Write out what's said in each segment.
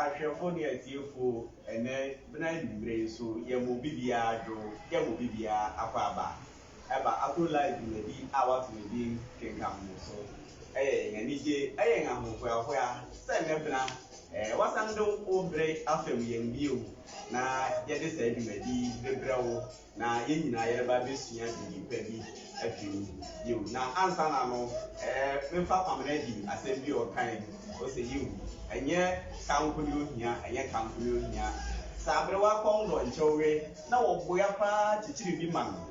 Ahwɛfo ne atiefo, ɛnnɛ bena anwummere nso yɛ mo biribiara dwo, yɛ mo biribiara akwaaba. Ɛba Akro Live dwumadi a wɔato no din Kenkan Mo So. Ɛyɛ yɛn anigye, ɛyɛ yɛn ahohoahoa sɛ nnɛ bena ɛɛ wɔasan de wo bere afam yɛn bio na yɛde saa dwumadi yi rebrɛ wo na yɛn nyinaa yɛreba abɛsua biribi pa bi afiri mu. Yiw, na ansa na no, ɛɛ, memfa Pamela di asɛm bi a ɔkae. Ose, Yiw, ɛnyɛ ka nko ne ohia, ɛnyɛ ka nko ne ohia. Saa bere wakɔm dɔ nkyɛ ɔwe, na wɔboa paa kyekyere bi ma no,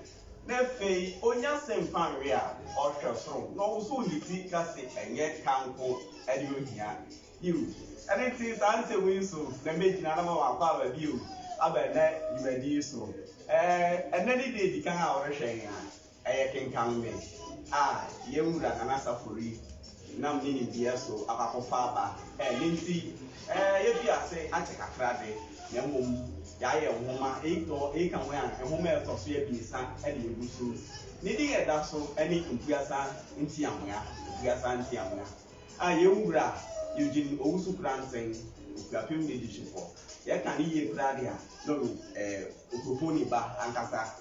na afei onya se mfa nwe a, ɔhwɛ soro, na ɔwosow ne ti ka se, Ɛnyɛ ka nko ne ohia. Bio. Ɛno nti, saa nsɛm yi so na mɛgyina na mawɔ akwaaba bio aba ɛnnɛ dwumadi yi so. Ɛnnɛ ne deɛ edi kan a worehwɛ yɛn a, ɛyɛ Kenkan Me a yɛn Wura Nana Asafori nam ne nimdeɛ so akɔ akɔfa aba. Ɛno nti, yɛafi ase akyɛ kakra de, na mmom yɛayɛ nwoma, eyi ka ho a, nwoma a ɛtɔ so abiɛsa de agu so. Ne din a ɛda so ne Mpuasa Ntiamoa, Mpuasa Ntiamoa. A Yɛn Wura Eugene Owusu Kuranseng, Okuapem N'Adihyefoɔ, yɛka no yie koraa deɛ a, na ɔyɛ Okuroponi ba ankasa.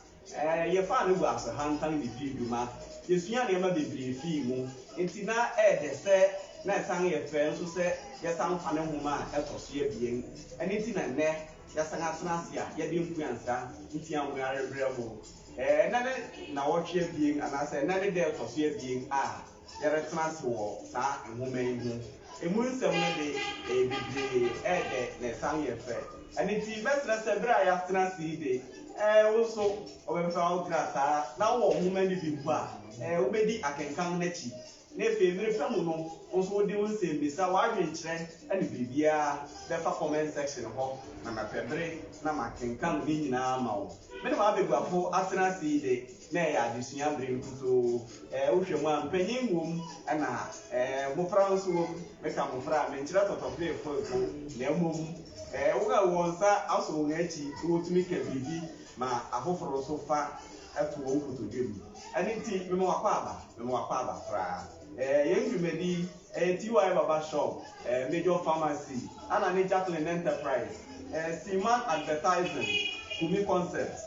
Yɛfaa no wɔ Asohantan bɛdii dwuma, yɛsuaa nneɛma bebree fii mu, enti na ɛyɛ dɛ sɛ na ɛsan yɛ fɛ nso sɛ yɛsan fa ne nwoma a ɛtɔ so abien. Ɛno nti na nnɛ yɛasan atena ase a yɛde Mpuansa Ntiamoa rebrɛ mo. Nnɛ ne nnawɔtwe abien anaasɛ nnɛ ne da a ɛtɔ so abien a. yɛretena ase wɔ saa nwoma yi ho. Emu nsɛm no de, ɛyɛ bebree, ɛyɛ dɛ, na ɛsan yɛ fɛ. Ɛno nti, mɛsrɛ sɛ bere a yɛatena ase yi de, ɛɛ, wo nso wobɛpɛ ara wogyina saa ara, na wowɔ nwoma no bi mpo a, ɛɛ, wubedi akenkan no akyi. Na afei, mmere pa mu no, wo nso wode wo nsɛmmisa, w'adwenkyerɛ, ne biribiara bɛfa comment section hɔ, na mɛpɛ bere na makenkan ne nyinaa ama wo. Me ne m'abaguafo atena ase yi de, na ɛyɛ adesua bere nkutoo. Ɛɛ, wohwɛ mu a, mpanyin wom, ɛna, ɛɛ, mmofra nso wom. Meka mmofra a, menkyerɛ tɔtɔberefoefo, na mmom, ɛɛ, wɔn a wɔn nsa asɔ wɔn akyi na wotumi ka biribi ma afoforo nso fa to wɔn kotodwe mu. Ɛno nti, mema w'akwaaba, mema w'akwaaba koraa. Ɛɛ, yɛn dwumadi yi, ɛyɛ TY Baba Shop, ɛɛ, Major Pharmacy, ɛna ne Jacqueline Enterprise, ɛɛ, Seaman Advertising, Kumi Concept,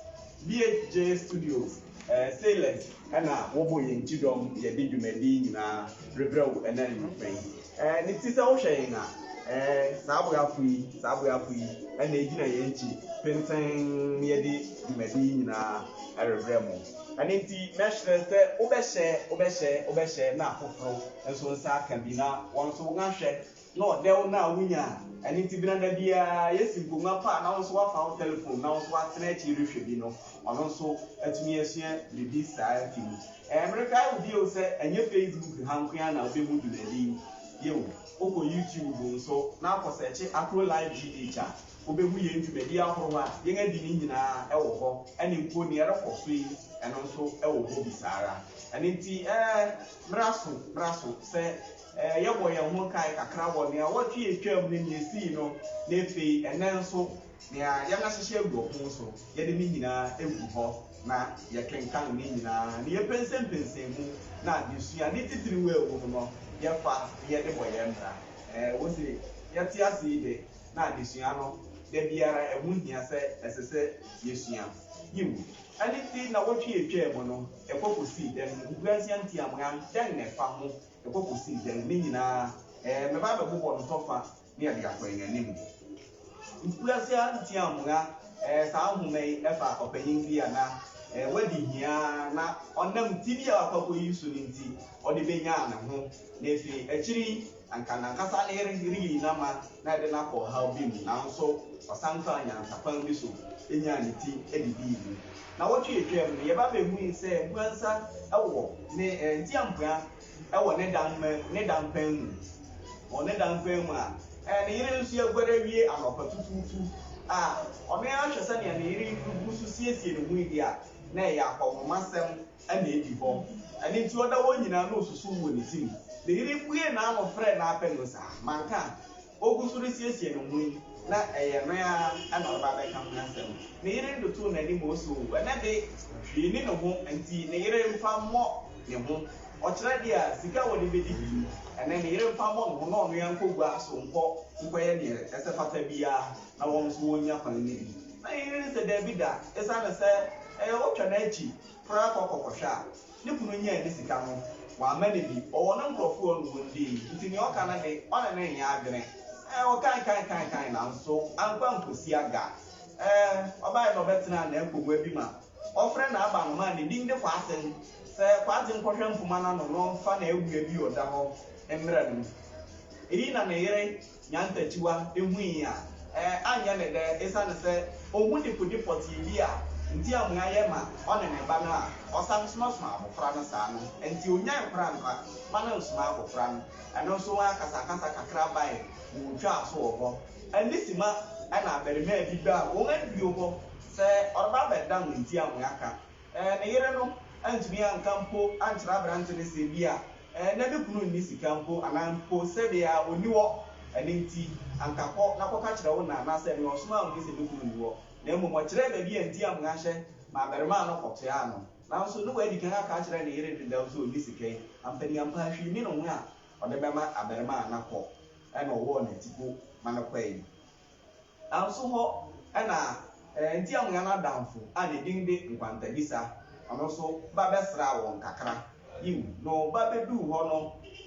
BHJ Studios ɛɛ Sailors ɛna wɔbɔ yɛn ti dɔm yɛde dwumadi yi nyinaa rebrɛ wo ɛna anwumpa yi ɛɛ ne ti sɛ wohwɛ yɛn a ɛɛ saa aboafo yi saa aboafo yi ɛna egyina yɛn akyi tenten ne yɛde dwumadi yi nyinaa ɛrebrɛ mo ɛne nti mɛhyerɛ sɛ wobɛhyɛ wobɛhyɛ wobɛhyɛ na afoforo nso nsa aka bi na wɔn nso wɔn ahwɛ Na ɔdɛw no a wunya a ɛno nti bena da biara yɛasi nkongua pa a na wo nso woafa wo telefon na wo nso woatena akyiri rehwɛ bi no, ɔno nso atumi asua biribi saa afi mu. Ɛɛ, merekae wo bio sɛ ɛnyɛ Facebook ha nko ara na wubehu dwumadi yi. Yiw, wokɔ YouTube nso na akɔsɛɛkye Akuro Live GH a, wubehu yɛn dwumadi ahorow a yɛn adi no nyinaa wɔ hɔ, ɛne mpo nea ɛrekɔ so yi, ɛno nso wɔ hɔ bi saa ara. Ɛno nti, ɛɛ, mmra so, mmra so sɛ. Yɛbɔ yɛn ho nkae kakra wɔ nea ɔtwe a etwaam ne nea esii no, na afei ɛnnɛ nso, nea yɛahyehyɛ agu ɔpon so. Yɛde ne nyinaa gu hɔ, na yɛkenkan ne nyinaa, na yɛpɛnsɛmpɛnsɛn mu, na adesua, ne titiriw a ɛwom no, yɛfa na yɛde bɔ yɛn bra. Ɛwɔ se yɛte ase yi de, na adesua no, da biara ɛho hia sɛ ɛsɛ sɛ yesua. Yiw, ɛno nti nnawɔtwe a etwaam no, ɛkɔ kosii dɛn? Nkuranhyia ntiamoa dɛn na ɛfa ho Ɛkɔ kɔsi dɛn? Ne nyinaa, ɛɛ, mɛba abɛbobɔ no tɔfa ne ɛde akɔ yɛn anim. Nkurase ara ntia mmoa, ɛɛ, saa nhoma yi fa ɔpanyin bi a na, ɛɛ, wadi hia ara na ɔnam ti bi a wakɔ akɔyi so no nti, ɔde benyaa ne ho, na afei akyiri yi, anka n'ankasa ne yere reyi no ama na ɛde no akɔ ɔhaw bi mu, nanso ɔsan faa nyansakwan bi so nyaa ne ti de dii mu. Nnawɔtwe a etwaam no, yɛba behui sɛ mpuran nsa wɔ ne ntiampua wɔ ne dan mɛ, ne dan pan mu. Wɔ ne dan pan mu a, ne yere nso aguare awie anɔpa tutuutu a, ɔno ara hwɛ sɛnea ne yere gu so siesie ne ho redi a, na ɛyɛ akɔnhomasɛm na edi hɔ. Ɛno nti, ɔda hɔ nyinaa na osusuw wɔ ne tirim. Ne yere buee n'ano frɛɛ n'apɛ no saa, Manka? Ogu so resiesie ne ho yi, na ɛyɛ me ara na ɔreba abɛka ho asɛm. Ne yere de too n'anim osoo, ɛnnɛ de, hwee nni ne ho, enti ne yere mfa mmɔ ne ho. Ɔkyerɛ deɛ a, sika a wɔde bɛdi bi mu, ɛnnɛ ne yere mfa mmɔ ne ho na ɔno ara nkɔ gua so nkɔ nkɔyɛ deɛ ɛsɛ fata biara na wɔn nso wɔnnya kwan nni bi. Na ne yere sɛ daabi da, ɛsiane sɛ, ɛɛ, ɔtwa n'akyi, koraa kɔ kɔkɔhwɛ a, ne kunu nyaa ne sika no, wamma no bi, ɔwɔ ne nkurɔfo wɔ no wɔn dii, nti nea ɔka no de, ɔne no nyɛ adwene, eh, ɔkae kae kae kae, nanso ankɔ ankosi aga, eh, ɔbaeɛ na ɔbɛtenaa n'apongua bi ma ɔfrɛ n'aba no maa ne din de Kwaaten, sɛ Kwaaten nkɔhwɛ mpoma no ano no mfa n'awia bi ɔda hɔ mmerɛ no, eyi na ne yere. Nyantakyiwa hui a, ɛɛ, anyɛ no dɛ esiane sɛ ohu dekode pɔtee bi a nti a mua yɛ ma ɔne ne ba no a ɔsan somasoma abofra no saa no nti onyae koraa mma ba no nsoma abofra no. Ɛno nso ho akasakasa kakra bae ma otwaa so wɔ hɔ. Ɛnde simma na abarimaa bi baa wɔn adiwo hɔ sɛ ɔreba abɛdan nti a mua ka. Ɛɛ, ne yere no antumi anka mpo ankyerɛ aberante no sɛ ebia Ɛɛ, na me kunu nni sika mpo, anaa mpo sɛ deɛ a ɔnni hɔ, ɛno enti, anka kɔ na kɔka kyerɛ wo na, anaasɛ ɛno ɔsomaa mo sɛ me kunu nni hɔ, na mmom ɔkyerɛɛ baabi a enti a monnanhyɛ ma abarimaa no kɔtoaa no, nanso na wadi kan aka akyerɛ ne yere dedaw sɛ ɔnni sika yi, ampaneampa hwee nni ne ho a ɔde bɛma abarimaa no akɔ, ɛna ɔwɔɔ no atiko ma no kɔe. Nanso hɔ na enti amoa no adamfo a ne din de Nkwantadisa no nso ba bɛsraa wɔn kakra. Yiw, no ba beduu hɔ no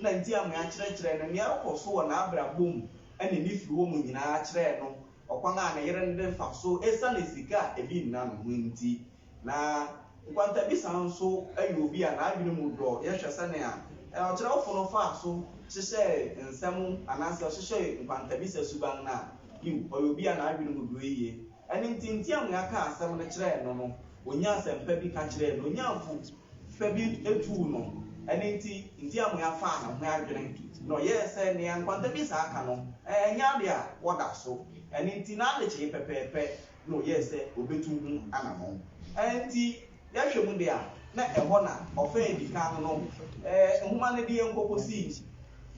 na enti amoa kyerɛkyerɛɛ no nea ɛrekɔ so wɔ n'abrabɔ mu ne ne firi hɔ mu nyinaa kyerɛɛ no ɔkwan a ne yere no de fa so esiane sika a ebi nna no ho nti. Na nkwantabisa nso yɛ obi a n'adwene mu dɔ. Yɛhwɛ sɛnea ɔkyerɛwfo no faa so hyehyɛɛ nsɛm anaasɛ ɔhyehyɛɛ nkwantabisa suban no a, yiw, ɔyɛ obi a n'adwene mu dɔ yiye. Ɛno nti, nteammua kaa asɛm no kyerɛɛ no no, onyaa asɛm pa bi ka kyerɛɛ no, onyaa afotu pa bi tuu no. Ɛno nti, nteammua faa ne ho adwene, na ɔyɛɛ sɛ nea nkwantabisa aka no, ɛnyɛ ade a wɔda so. Ɛno nti, n'adekyee pɛpɛɛpɛ. na ɔyɛɛ sɛ obetu ho anammɔn. Enti, yɛhwɛ mu de a, na ɛhɔ na ɔfã a edi kan no nhoma no de yɛn kɔ kosii,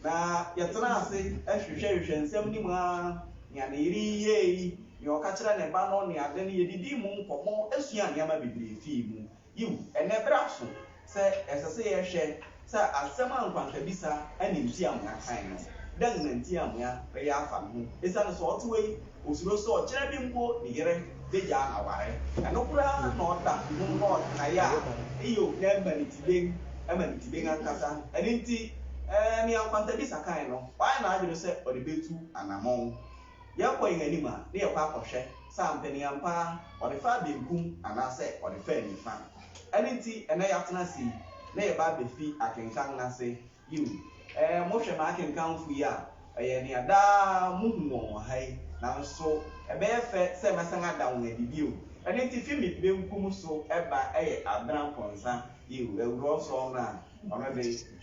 na yɛtraa ase hwehwɛhwehwɛɛ nsɛm no mu ara, nea ne yere yi yɛe yi, nea ɔka kyerɛɛ ne ba no, ne ade no, yedidii mu nkɔmmɔ suaa nneɛma bebree fii mu. Yiw, ɛnnɛ bere aso sɛ ɛsɛ sɛ yɛhwɛ sɛ asɛm a nkwankabisa ne ntiamoa kae no, dɛn na ntiamoa reyɛ afa ne ho? Esiane sɛ ɔte hɔ yi, osuro sɛ ɔkyena bi mpo ne yere begyaa no aware. Ɛno koraa na ɔda ho na ɔkae a Hiob na ɛma ne ti den, ɛma ne ti den ankasa. Ɛno nti, nea nkwankabisa kae no, wayɛ n'adwene sɛ ɔde betu anammɔn. Yɛkɔ yɛn anim a, na yɛkɔ akɔhwɛ sɛ ampa ni ampa ara ɔde faa benkum anaasɛ ɔde faa nifa. Ɛno nti, ɛnnɛ yɛatena ase yi, na yɛba abefi akenkan no ase. Yiw, ɛɛ, mohwɛ m'akenkanfo yi a, ɛyɛ nea daa muhu wɔn wɔ ha yi. Nanso ɛbɛyɛ fɛ sɛ mɛsan ada wɔn adi bio. Ɛno nti, fi me benkum so ba yɛ Abena Mponsa. Yiw, awuraw nsɔw no a ɔno de,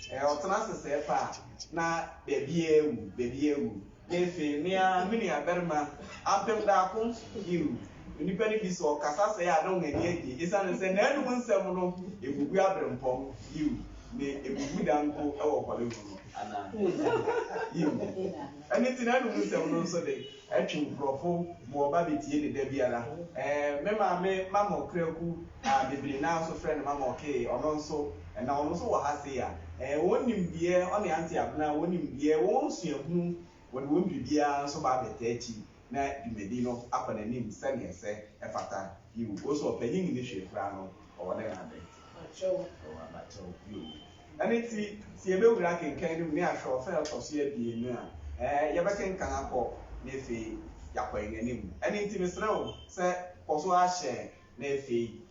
ɛɛ, ɔtena ase sɛɛ paa, na baabiara awu, baabiara awu. Efe, me ara, me nuabarima, apem daako, yiw, onipa no bi sɛ ɔkasa sɛɛ a, na wɔn ani agye, esiane sɛ n'anom nsɛm no, ebubu abirɛmpɔn, yiw, ne ebubu da mpo wɔ Hollywood no, anaa? Yiw. Ɛno nti n'anom nsɛm no nso de, ɛtwe nkurɔfo ma wɔba betie no da biara. Ɛɛ, me maame, Mama Okraku, a bebree no ara nso frɛ no Mama Ɔkee, ɔno nso, na ɔno nso wɔ ha sei a, eh, wɔn nimdeɛ, ɔne Auntie Abena, wɔn nimdeɛ, wɔn suahunu, wɔde wɔn biribiara nso ba abɛtaa akyi na dwumadi no akɔ n'anim sɛnea ɛsɛ, ɛfata, yiw, wo nso ɔpanyin nni hwee koraa no, ɔwɔ ne n'ade. Abakyɛw. Ɔwɔ abakyɛw, yiw. Ɛno nti, sɛ yɛbɛwura akenkan no mu na yɛahwɛ ɔfã a ɛtɔ so abien no a, eh, yɛbɛkenkan akɔ na afei yɛakɔ yɛn anim. Ɛno nti, mesrɛ wo sɛ kɔ so ara hyɛ na afei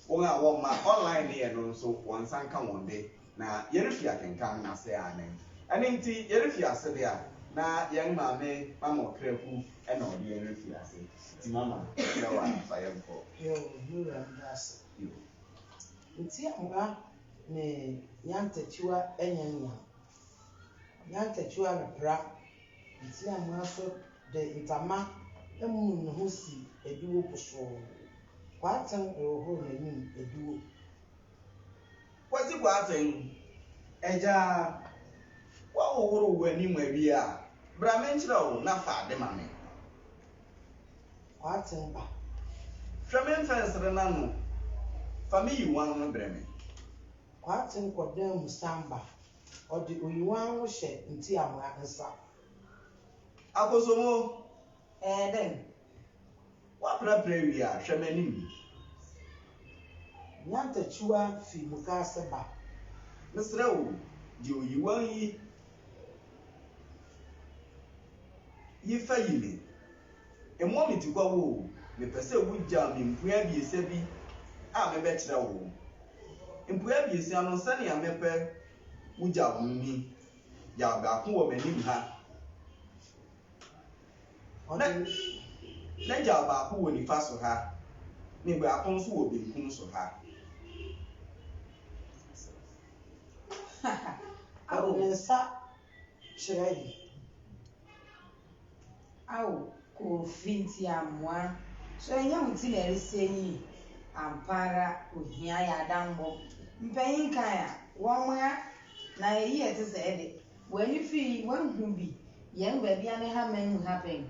wɔn a wɔma online no yɛ no nso wɔn nsa nka wɔn de, na yɛrefi akenkan no ase ara nnɛ. Ɛno nti, yɛrefi ase de a, na yɛn maame Mama Ɔkraku na ɔde yɛn refi ase. Nti Mama, yɛsrɛ wo ara fa yɛn kɔ. Yoo, me wura meda ase. Yoo. Nti Amara ne Nyantakyiwa nyɛ nea. Nyantakyiwa repra. Ntseamuaa so dze ntama muu noho sii ediwo posoo. Boateng rohor n'enyim ediwo. Kwesi Boateng, Egya, wɔhohoroo w'enyim ewie a, bra menkyerɛ wo na fa ade ma me. Boateng ba. Hwɛ me mfɛnsere no ano, fa me yiwan no brɛ me. Boateng kɔ dan mu san ba. Ɔde oyiwan ho hyɛ ntiamoa nsa. Akosombo, ɛɛ dɛn? Woaprapra awie a, hwɛ m'anim yi. Nyantakyiwa fi mukaase ba. Mesrɛ wo, gye oyiwan yi yi fa yi me. Mmɔ me tikwa wo o, mepɛ sɛ wogyaw me mpuae abiɛsa bi a mebɛkyerɛ wo. Mpuae abiɛsa no, sɛnea mepɛ wogyaw no ni, Gyaw baako wɔ m'anim ha, na gyaw baako wɔ nifa so ha, ne baako nso wɔ benkum so ha. Ɔde ne nsa kyerɛe. Ao Kofi nti amoa. So ɛnyɛ wo ti na ɛresɛ yi? Ampa ara ohia yɛn adammɔ. Mpanyin kan a, wɔmmoa na eyi a ɛte sɛɛ de, w'ani fi yi woahu bi? Yɛn baabi a ne hama nhu happen.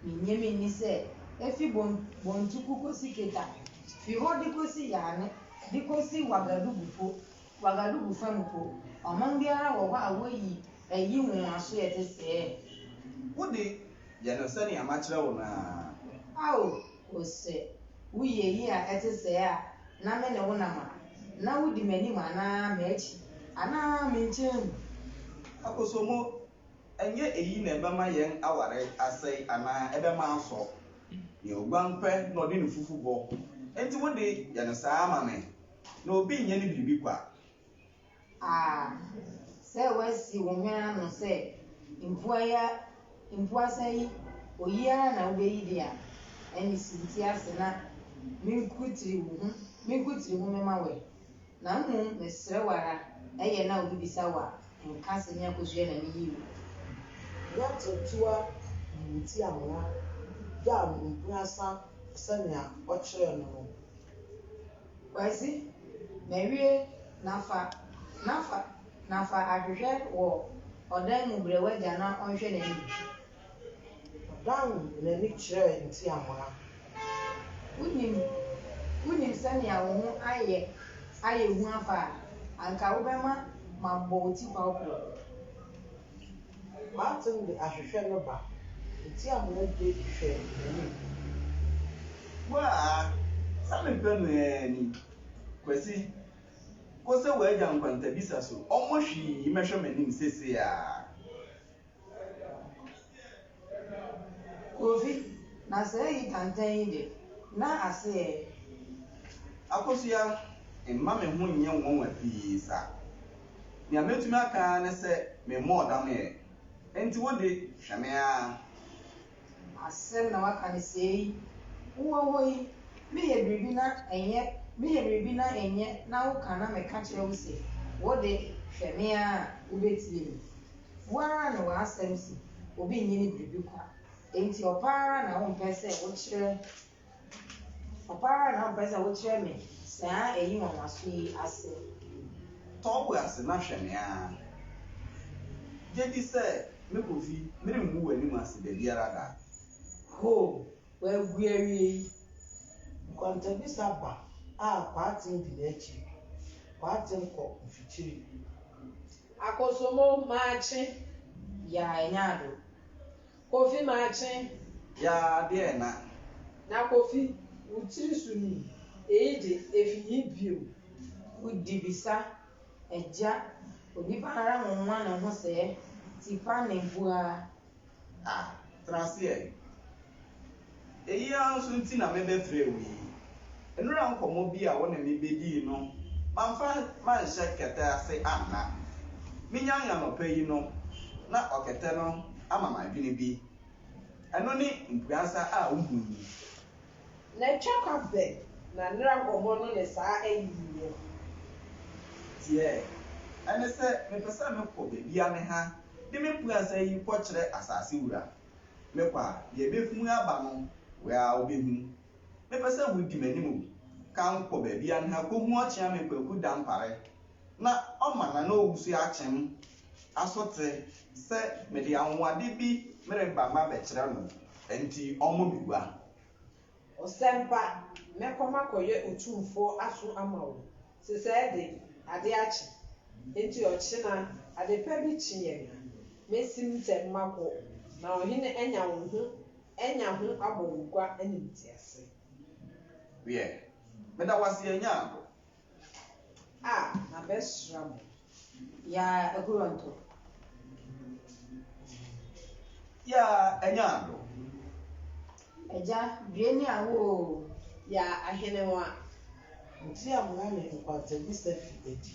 Minnye minni sɛ efi Bon Bontuku kosi Keta, fi hɔ de kosi Yaane de kosi Wagadugu po, Ouagadougou fa mu mpo, ɔman biara wɔ hɔ a woyi ayi nwonwasoɛ te sɛɛ. Wo de, yɛ no sɛnea makyerɛ wo no ara. Ao, O sɛ woyi ayi a ɛte sɛɛ a, na me ne wo nam a, na wodi m'anim anaa m'akyi, anaa me nkyɛn mu. Akosombo, ɛnyɛ eyi na ɛbɛma yɛn aware asɛe anaa ɛbɛma asɔ. Nea oguan pɛ na ɔde ne fufu bɔ, enti wo de, yɛ no saa ara ma me. na obi nyɛ no biribi kwa. A Sɛ woasi wo hwene ano sɛ mpuae a mpuasa yi oyi ara na wubeyi de a, ɛnne si wo ti ase na minkutiri wo ho, minkutiri ho mɛma wo ɛ. Na mmom mesrɛ wo ara, ɛyɛ na obi bisa wo a, nka sɛ me akosua na miyii wo. Yɛte toa yi wo ti amena, gyaw mpuasa sɛnea ɔkyerɛɛ no no. Kwasi, Mawie, Nafa, Nafa, Nafa ahwehwɛ wɔ ɔdan mu brɛ w'agya na ɔnhwɛ n'anim. Ɔdan n'ani kyerɛɛ ntiamoa. Wonim, wonim sɛnea wo ho ayɛ ayɛ hu afa a, anka wobɛma mabɔ wo tikwaw korɔ. M'atem de ahwehwɛ no ba. Eti a moagye hwɛ m'anim. Woaa, sɛ me pɛ no aa ni. Kwasi, kɔ sɛ w'agya nkwantabisa so ɔmmɔ hwii mmɛhwɛ m'anim sesei aa. Kofi, na sɛ eyi tantan yi de, na ase ɛ. Akosua, mma me ho nyɛ nwonwa pii sa. Nea metumi aka ara ne sɛ memmɔɔ dam ɛ. Enti wo de, hwɛ me ara. Asɛm na waka no sei. Wowɔ hɔ yi, meyɛ biribi na ɛnyɛ, meyɛ biribi na ɛnyɛ na woka na meka kyerɛ wo se, wo de, hwɛ me ara a, wobɛtie me. Wo ara ne w'asɛm se obi nnye ne biribi kwa. Enti ɔpɛ ara na wompɛ sɛ wokyerɛ Papa ara na ɔmpɛ sɛ wokyerɛ me saa ayi nwanwaso yi ase. Tɔ wo ase na hwɛ me ara. Gye di sɛ mekɔ fi, merengu w'anim ase da biara da. Hoo, wagu awie yi. Nkɔntɔbisa ba a Kwaatem di n'akyi. Kwaatem kɔ mfikyiri. Akosomo, Maakye, Yaa, Nyaado. Kofi makye yaa deɛ na. Na Kofi wo tiri so ni eyi de efi yi bio. Wo di bisa agya onipa ara ho nwa ne ho sɛɛ tipa ne bua ah. Tena aseɛ Eyi ara nso nti na mebɛfrɛɛ wo yi. Nnora nkɔmmɔ bi a wo ne me bɛdii no, mamfa manhyɛ kɛtɛ ase anna. Menyae anɔpa yi no, na ɔkɛtɛ no ama m'adwene bi. Ɛno ne mpuansa a wohui yi. Na atwa kwa bɛn na nnora nkɔmmɔ no ne saa ayi yi wɔ? Teɛɛ. Ɛne sɛ, mepɛ sɛ mekɔ baabi a me ha de me mpuansa yi kɔkyerɛ asase wura. Mekɔ a, deɛ ɛbɛhunu aba no, woaa wobɛhunu. Mepɛ sɛ wodi m'anim o, ka nkɔ baabi a nha kɔhu ɔkyea me Kwaku Dampare, na ɔma n'anɔwusie akyem asote sɛ mede anwonwade bi mereba mabɛkyerɛ no, ɛnti ɔmmɔ me gua. Ɔsɛmpa, mɛkɔ makɔyɛ otumfoɔ aso ama wo. Sesɛɛ de, ade akye. Enti ɔkyena, adepa bi kye yɛn a, mesi mu ntɛm makɔ, na ɔhene anya wo ho anya ho abɔ wo gua animtiase. Wiɛ, meda wo ase, yɛn Nyankopɔn, Ah, mabɛsra mo. Yaa agorɔ ntɔ. Yaa ɛnyɛ ado. Agya due ne awo o. Yaa ahene nwa. Nti a moa me nkwantawusa fi adi.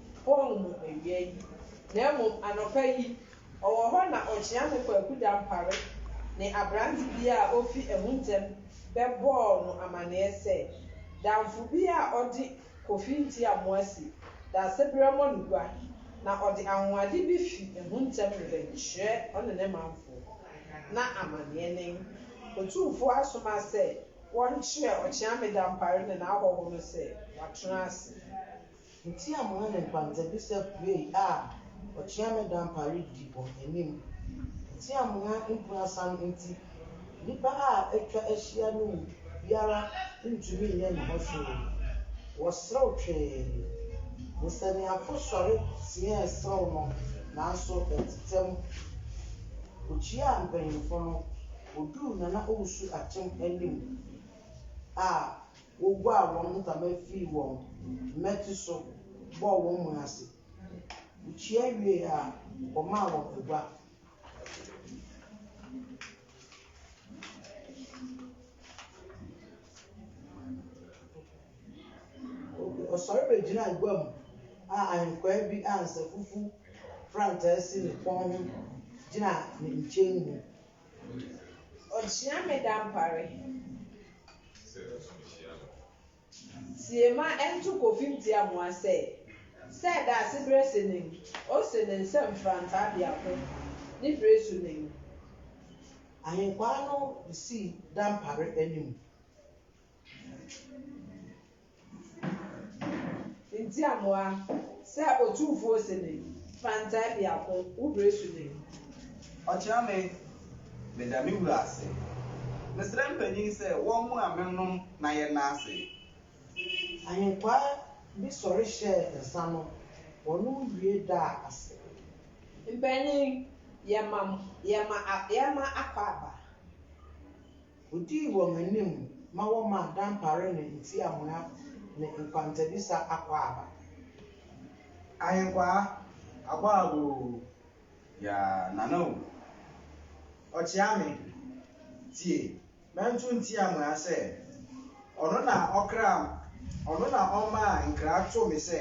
Paul mu awia yi, na mmom anɔpa yi, ɔwɔ hɔ na ɔkyea me Kwaku Dampare ne aberante bi a ofi ɛho ntɛm bɛbɔɔ no amanneɛ sɛ, Damfo bi a ɔde Kofi Ntiamoasi Daasebrɛ mmɔ no gua na ɔde anwonwade bi fi ɛho ntɛm rebɛkyerɛ ɔne ne manfo. Ná amanneɛ nen. Otumfoɔ asoma sɛ wɔnkyerɛ Ɔkyeame Dampare ne n'ahɔho no sɛ wɔatena ase. Ntsi amoa na nkwandzabisa puei a ɔkyea me dampa ridi hɔn enyim. Ntsi amoa mpuasan ntsi, nyimpa a etwa ehyia no mu biara nntum nnyɛ no ho hwee. Wɔserew twee. Nsaniafo sɔre tseɛɛ serew no, naaso ɛtsetsɛ mu. Okyiaa mpanyimfo no, oduu Nana Owusu-Atem enyim a Woguaa wɔn ntama fii wɔn mmati so bɔɔ wɔn mu ase. Wokyia wiei a, wɔmaa wɔn agua. Ɔsɔre begyinaa gua mu a ahenkwaa bi a nsafufu frankaa si ne kɔn ho gyina ne nkyɛn mu Ɔkyea me dampare. Tie ma ɛnto kofim ti amoa sɛ. Sɛ daasebrɛ se nen. Ose ne nsam frantaa biako ne bire so nen. Ahenkwaa no sii dampare anim. Ntiamoa, sɛ Otumfoɔ ose ni, fa ntae biako, wo bere so ni. Ɔkyena me, meda me wura ase. Mesrɛ mpanyin sɛ wɔmmoa me nnom na yɛnna ase. Ahenkwaa bi sɔre hyɛɛ nsa no, wɔnom wie daa ase. Mpanyin, yɛma, yɛma, yɛma akwaaba. Odii wɔn anim ma wɔmaa dampare ne ntiamoa ne nkwantabisa akwaaba. Ahenkwaa, akwaaba o, ya Nana o, ɔkyea me, tie, mɛnto ntiamoa sɛ, ɔno na ɔkraa, ɔno na ɔmaa nkra too me sɛ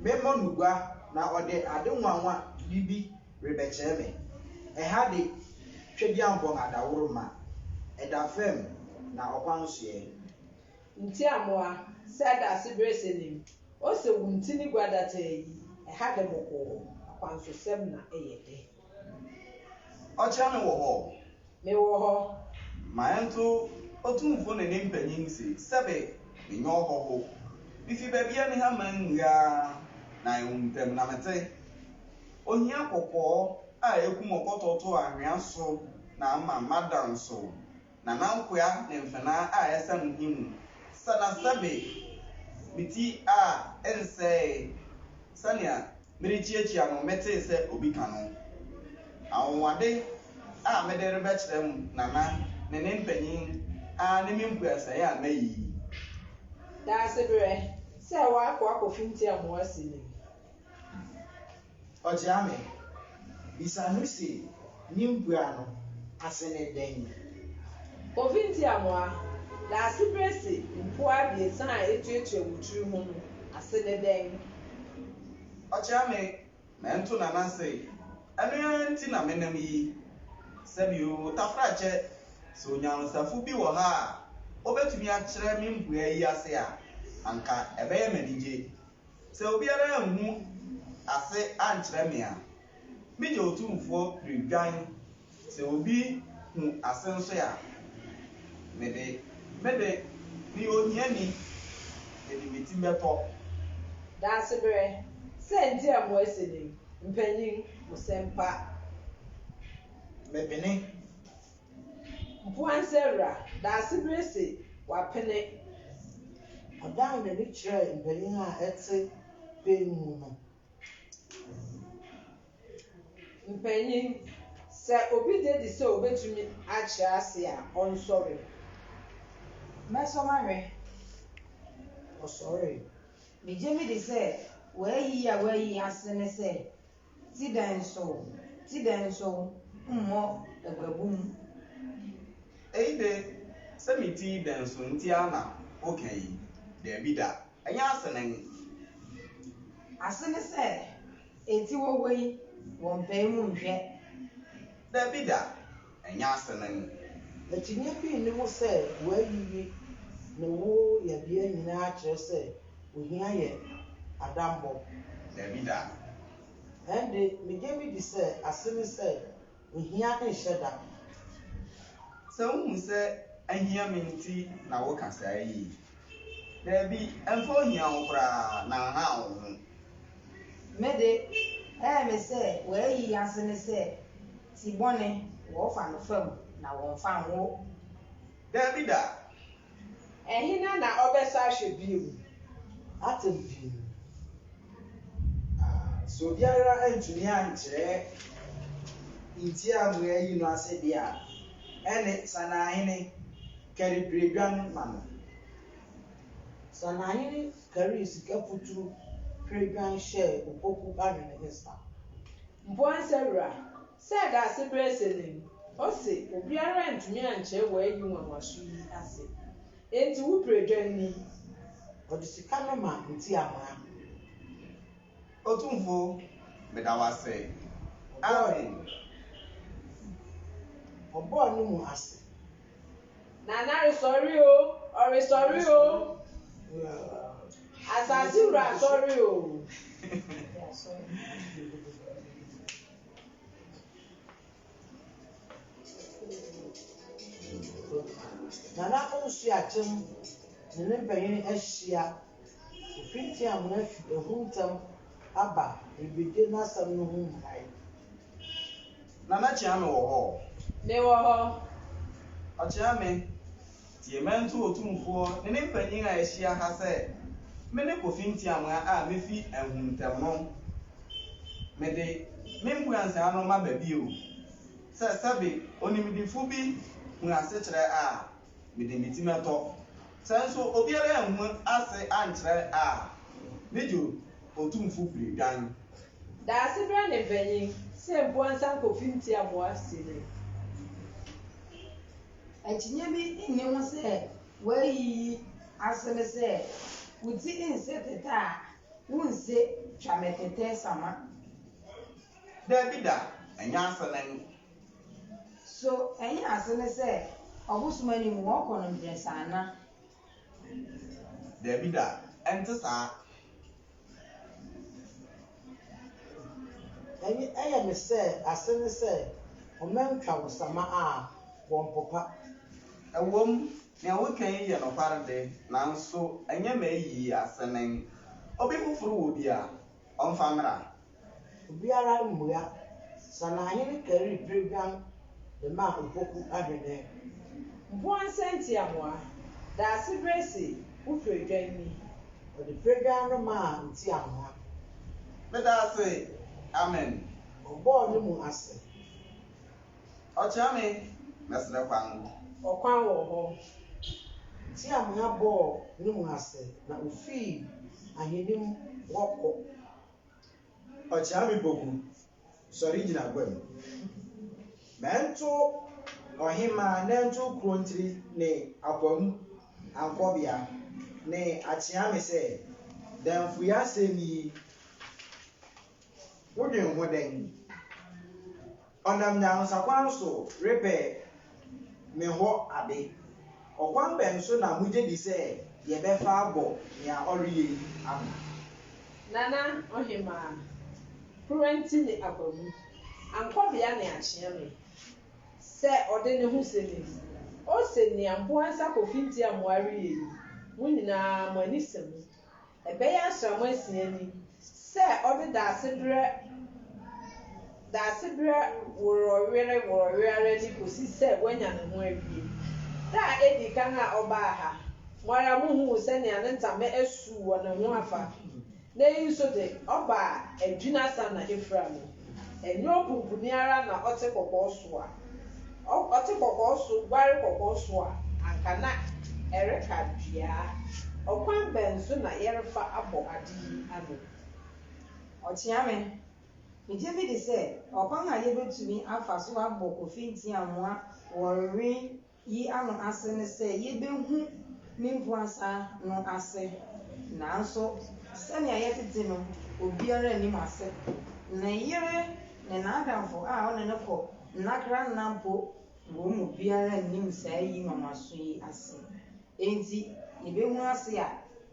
memmɔ no gua na ɔde ade nwanwa bi bi rebɛkyerɛ me. Ɛha de, Tweduampɔn adaworo ma ɛda fam na ɔkwan nsoɛ. Ntiamoa, sɛ ɛda ase bere sɛ nim. O sɛ wo ntini gua da taa yi, ɛha de bɔkɔɔ, akwansosɛm na ɛyɛ dɛ. Ɔkyerɛ me wɔ hɔ, Mewɔ hɔ. Ma ɛnto Otumfo ne ne mpanyin se, Sɛbe, menyɛ ɔhɔho. Mifi baabi a miha mannua ara, na ɛwo ntɛm, na mete. Ohia kɔkɔɔ a ekum ɔkɔtɔ to anhwea so na ama mada nsow, na nankoa ne mfenaa a ɛsɛn mo he mu. Sɛ na sɛbe, me ti a ɛnsɛee sɛnea merekyiakyia no metee sɛ obi ka no. Anwonwade a mede rebɛkyerɛ mo nana ne ne mpanyin ara ne me mpuasae a mayi yi. Daasebrɛ sɛ woakɔ akɔfintia mo asi no mu. Ɔkyea me, bisa no se. Nyɛmboa no ase ne dɛn? Obi ntia mo a, n'asebrɛsi mpoa abiɛsa a etuatua mo tsir ho no ase ne dɛn? Ɔkyea me, mento na n'ase. Ɛno ara nti na menam yi. Sɛbi o, Tafrakyɛ, sɛ onyansafo bi wɔ ha a obetumi akyerɛ me mpoa yi ase a, anka ɛbɛyɛ me anigye. Sɛ obiara anhu ase ankyerɛ me a, Me deɛ otumfoɔ pere dwan sɛ obi hu ase nso a me de me de meyɛ ohiani me de me ti bɛtɔ. Daasebrɛ sɛ nti a mo asi ne mpanyin mo sɛmpa. Me pene. Mpoansa wura Daasebrɛ se wa pene. Ɔdan n'ani kyerɛɛ mpanyin a ɛte bɛn mu no. Mpanyin, sɛ obi gye di sɛ obetumi akyerɛ ase a, ɔnsɔre. Mɛsɔ no ahwɛ. Ɔsɔree. Migye midi sɛ w'ayi a w'ayi ase ne sɛ, Ti dɛn so, ti dɛn so, mmɔ aguabum. Eyi de, sɛ me ti dɛn so nti ara na woka yi? Dabi da! Ɛnyɛ asenani. Ase ne sɛ, enti wɔwɔ yi, wɔmpae mu nhwɛ. Dabi da, ɛnyɛ asenani. Akyinnye bi nni ho sɛ w'ayiyi ne wo yɛbea nyinaa kyerɛ sɛ ohia yɛ adammɔ. Dabi da. Ɛnde, migye midi sɛ ase ne sɛ Ohia nhyɛ da. Sɛ wuhu sɛ ahia me nti na woka saa yi, dabi, ɛmfa ohia ho koraa, na nhaw wo ho. Me de, ɛyɛ me sɛ w'ayi yi ase ne sɛ, ti bɔne, wɔfa no fam na wɔmfa nwo. Dabi da! Hena na ɔbɛsan ahwɛ bio? Atɛm pii mu. Sɛ obiara antumi ankyerɛ nti a moayi no ase de a, ɛnne Sanaahene kari bere dwan ma no. Sanaahene karii sika puturu bere dwan hyɛɛ opoku ahene nsa. Mpoansa wura. Sɛ Daasebrɛsɛ no ni, ose, Obiara antumi ankyerɛ w'ayi nwanwaso yi ase, enti wo berɛ dwan ni. Ɔde sika no ma nti amoa. Otumfo, meda wo ase. Amen. Ɔbɔɔ ne mu ase. Nana resɔre o, ɔresɔre o. Asase wura asɔre o. Nana Ɔnsuakyem ne ne mpanyin ahyia. Ofi Nteamu afi ahu ntɛm aba rebegye n'asɛm no ho mmuae. Nana Kyeame wɔ hɔ? Me wɔ hɔ. Ɔkyeame, Tiemento Otumfoɔ ne ne mpanyin a ahyia ha sɛ, Mene Kofi Ntiamoa a mefi Ahuntam no. Mede me mmuansaa no maba bio sɛ sɛbe onimdifo bi hu asekyerɛ a, mede me ti mɛtɔ. Sɛ nso obiara anhu ase ankyerɛ a, megye Otumfo bere dwan. Daasebrɛ ne mpanyin, sɛ Mpuansa Kofi Ntiamoa si no. Akyinnye bi nni ho sɛ w'ayi yi ase ne sɛ wo ti nsɛ tɛtɛ a wonse twa me tɛtɛ sama. Dabi da, ɛnyɛ ase ne no. So ɛnyɛ ase ne sɛ ɔbosom anim wɔkɔ no mprɛnsa ana? Dabi da, ɛnte saa. Ɛnye ɛyɛ me sɛ ase ne sɛ wɔmɛntwa wo sama a, wɔmpopa. Ɛwom, nea woka yi yɛ nokware de, nanso ɛnyɛ m'ayi asenen. Obi foforo wɔ bi a, ɔmfa mmra. Obiara mmua. Sanahene karii bere guan de maa Opoku Ahwene. Mpoa Nsɛntiamoa, Daase bere se wo piredwan ni. Ɔde piredwan no maa Ntiamoa. Meda ase, amen. Ɔbɔɔ ne mu ase. Ɔkyea me, mɛsrɛ kwan. Ɔkwan wɔ hɔ. Ntiamoa bɔɔ ne mu ase na ofii ahenni mu hɔ kɔ. Ɔkyea me boku, sɔre gyina gua mu. Mɛnto ɔhemmaa nantuw kurow ntiri ne akoa mu ankɔbea ne akyea me sɛ, Damfoyɛ asɛm yi, wodwen ho dɛn? Ɔnam nyansakwan so repɛ me hɔ ade. Ɔkwan bɛn so na mugye di sɛ yɛbɛfa abɔ nea ɔreyɛ yi ano? Nana Ohemaa, Kuranti ne Abamu, Ankɔbea ne Akyeame, sɛ ɔde ne ho sɛ nim. Ose nea Mpoansa Kofi Ntiamoa reyɛ yi, mo nyinaa mo ani sɛ mu. Ɛbɛyɛ asram asia ni sɛ ɔde Daasebrɛ Daasebrɛ worɔwere worɔwere ara ni kɔsi sɛ wanya ne ho awie. Da a ɛdi kan a ɔbaa ha, mo ara mohuu sɛnea ne ntama asu wɔ ne ho afa. Nnɛ yi nso de, ɔbaa adwini asa na afira mu. Ɛnyɛ opumpuni ara na ɔte kɔkɔɔ so a ɔte kɔkɔɔ so guare kɔkɔɔ so a anka na ɛreka dua. Ɔkwan bɛn so na yɛrefa abɔ ade yi ano? Ɔkyea me. Migye midi sɛ ɔkwan a yebetumi afa so abɔ kofi ntiamoa wɔ nwe yi ano ase ne sɛ yebehu ne mpuasa no ase. Nanso, sɛnea yɛte te no, obiara nnim ase. Ne yere ne n'adamfo a ɔne no kɔ nnakra nna mpo wɔn mu biara nnim saa yi nwanwaso yi ase. Enti, yebehu ase a,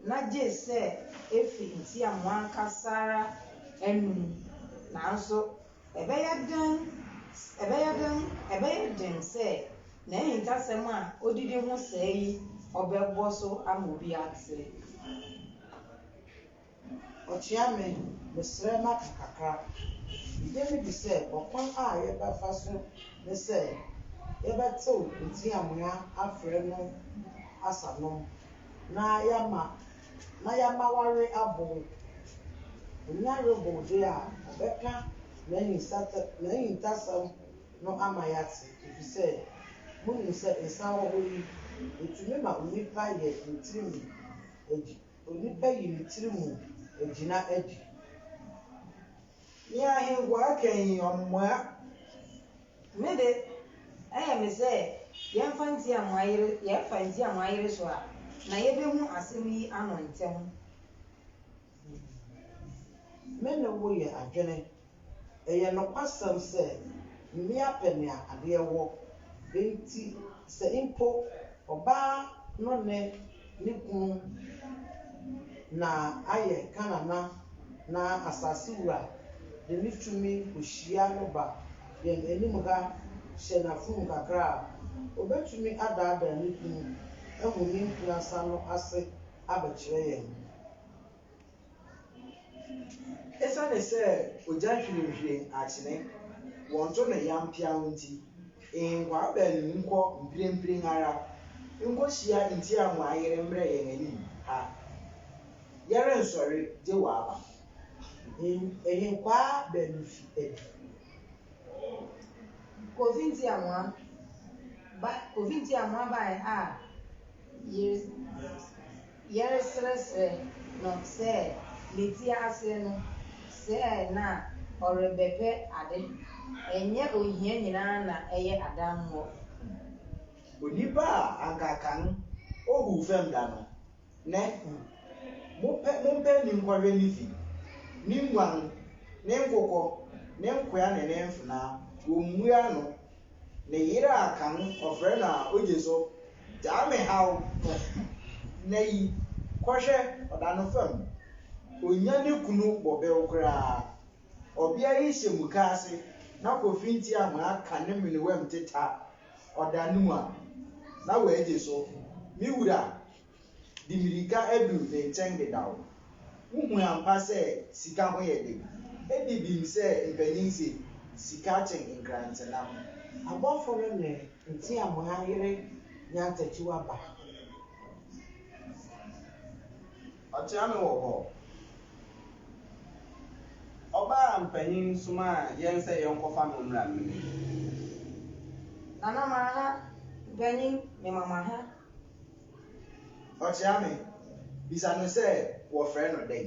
na gye sɛ efi ntiamoa ankasa ara anom. Nanso, Ɛbɛyɛ den, ɛbɛyɛ den, ɛbɛyɛ den sɛ n'ahintasɛm a odidi ho sɛɛ yi ɔbɛbɔ so ama obi ate. Ɔkyea me, mesrɛ maka kakra. Migye me di sɛ ɔkwan a yɛbɛfa so ne sɛ yɛbɛtew nteamoa afrɛ no asanom na yɛama na yɛama w'awe abow. Onya rebow de a, ɔbɛka n'ahintasɛm no ama yɛate, efisɛ munim sɛ nsa wɔ hɔ yi, etumi ma onipa yɛ ne tirim adi, onipa yi ne tirim agyina adi. Nea ahenkwaa ka yi, ɔmmoa. Me de, ɛyɛ me sɛ yɛmfa nti a moayere, yɛfa nti a moayere so a, na yebehu asɛm yi ano ntɛm. Me ne wo yɛ adwene. Ɛyɛ nokwasɛm sɛ mmea pɛ nea adeɛ wɔ, enti sɛ mpo ɔbaa no ne. Ne kunu na ayɛ Kanana na asase wura de ne tumi kohyia no ba yɛn anim ha hyɛ n'afurum kakra a, obetumi adaadaa ne kunu ahu ne mprɛnsa no ase abɛkyerɛ yɛn. Esiane sɛ ogya hwirenhwiren akyene, wɔnto no yam peaw nti, nhenkwaa baanu yi nkɔ mprempren ara nkohyia ntia mo ayere mmrɛ yɛn anim ha. Yɛrensɔre gye wɔaba. Nhenkwaa baanu fi adi. Kofi nti a mo aba, Kofi nti a mo abae a yere. Yɛresrɛsrɛ no sɛ ne ti ase no sɛ na ɔrebɛpɛ ade. Ɛnyɛ ohia nyinaa na ɛyɛ adammɔ. Onipa a anka kan ohuu fam da no, nnɛ, mopɛ mompɛ ne nkɔhwɛ ne fi, ne nguan, ne nkokɔ, ne nkoa ne ne mfenaa, wommua ano. Ne yere a kan no ɔfrɛ no a ogye so gyaa me haw no, nnɛ yi kɔhwɛ ɔda no fam. Onnya ne kunu bɔbew koraa. Ɔbea yi hyɛ mukaase na kofi ntiahoa ka ne menewam teta ɔda no mu a, na wagye so. Me wura De mmirika adu ne nkyɛn dedaw. Wuhu ampa sɛ sika ho yɛ den. Edi bem sɛ mpanyin se, Sika kyɛn nkrantɛnam. Abɔfo no ne nteamoa yere nya ntakyio aba. Ɔkyea me wɔ hɔ. Ɔbaa mpanyin somaa yɛn sɛ yɛnkɔfa no mmra mmɛdi. Nana ma ha, mpanyin, mema mo aha. Ɔkyea me. Bisa no sɛ wɔfrɛ no dɛn.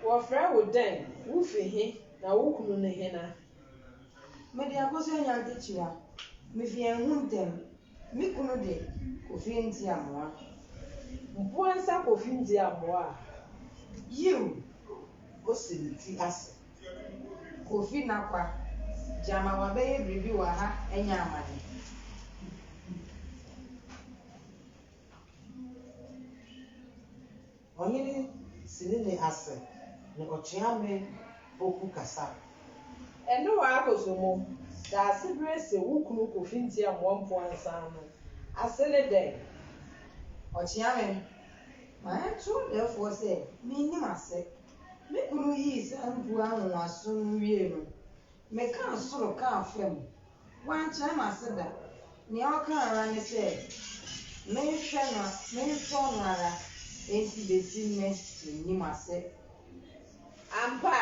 Wɔfrɛ wo dɛn? Wufi he, na wo kunu ne hena? Mede akosi Anyankekyia. Mifi Ahuntam. Me kunu de, Kofi Ntiamoa. Mpoansa Kofi Ntiamoa a? Yiw! Osi ne ti ase. Kofi Nakpa, gyama wabɛyɛ biribi wɔ ha anya amane. Ɔhene sini ne ase ne ɔkyeame poku kasa. Ɛno wa akoso mo da ase bere se wo kunu Kofi nti amoa mpoa nsan no ase ne dɛn? Ɔkyeame, ma ɛnto ɔdɛɛfoɔ sɛ mennim ase. Me kunu yii saa mpuwa nwonwaso no wiei no, mekaa soro kaa fam. Wankyerɛ n'ase da. Nea ɔkaa ara ne sɛ, Menhwɛ no, mensɔ no ara, enti besi nnɛ minnim ase. Ampa,